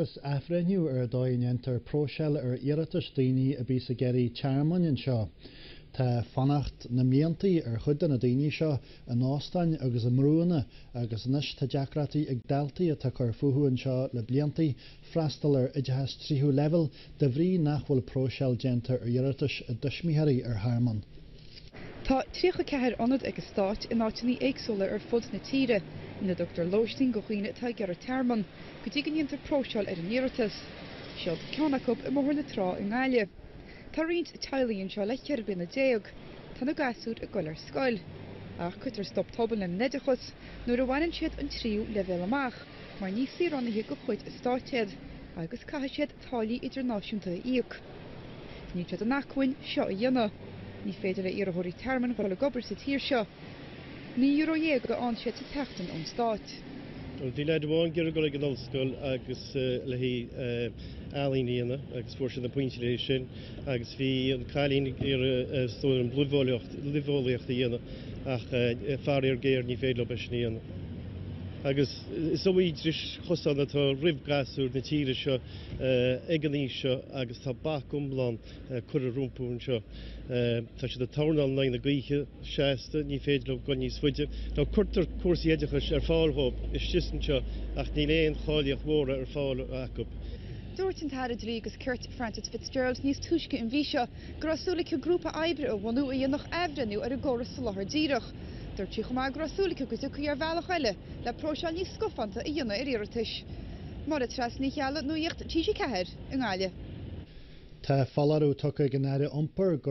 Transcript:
agus athbhreithniú ar an dóigh a ndéantar próiseáil ar iarratais daoine a bhíos ag iarraidh tearmainn anseo. Tá fanacht na mblianta ar chuid de na daoine seo in óstáin agus i mbrúanna agus anois tá deacrachtaí ag daltaí atá cur fúthu anseo le blianta freastal ar oideachas tríú leibhéal de bhrí nach bhfuil próiseáil déanta ar iarratais a dtuismitheoirí ar thearmann. Tá 34 ionad ag an stát in áiteanna éagsúla ar fud na tíre ina dtugtar lóistín do dhaoine atá ag iarraidh tearmann go dtí go ndéantar próiseáil ar a n-iarratas. Siod ceann acu i mBóthar na Trá i nGaillimh. Tá roinnt teaghlaigh anseo le ceithre bliana déag. Tá na gasúir ag goil ar scoil. Ach cuirtear stop tobann lena n-oideachas nuair a bhaineann siad an tríú leibhéal amach mar ní saoránaithe de chuid an stáit iad agus caithfidh siad táillí idirnáisiúnta a íoc. Níl siad in acmhainn seo a dhéanamh. Ní féidir le iarrthóirí tearmainn dhul ag obair sa tír seo. Naoi euro dhéag a fhaigheann siad sa tseachtain ón stát. Bhí leaid amháin ag iarraidh dul ag an ollscoil agus le haghaidh ealaín a dhéanamh agus fuair siad na pointí le haghaidh sin agus bhí an cailín ag iarraidh is dóigh liom luibheolaíocht a dhéanamh ach faraor géar ní féidir leo é sin a dhéanamh. Is iomaí dris chosáin atá roimh ghasúir na tíre seo ag an aois seo agus tá bac iomlán curtha rompu anseo. Tá siad ag tornáil in aghaidh na gaoithe seasta, ní féidir leo dul níos faide. Ó cuirtear cúrsaí oideachais ar fáil dhóibh istigh 's anseo ach níl aon cháilíocht mhóra ar fáil acu. Dúirt an tAire Dlí agus Cirt, Frances Fitzgerald níos túisce an mhí seo go raibh súil aici grúpa oibre a bhunú a dhéanfadh athbhreithniú ar an gcóras Soláthar Díreach. Dúirt sí chomh maith go raibh súil aici go dtiocfaí ar bhealach eile le próiseáil níos scafánta a dhéanamh ar iarratais. Máire Treasa Ní Cheallaigh, Nuaíocht TG4 i nGaillimh. Tá foláireamh tugtha ag an Aire Iompair go.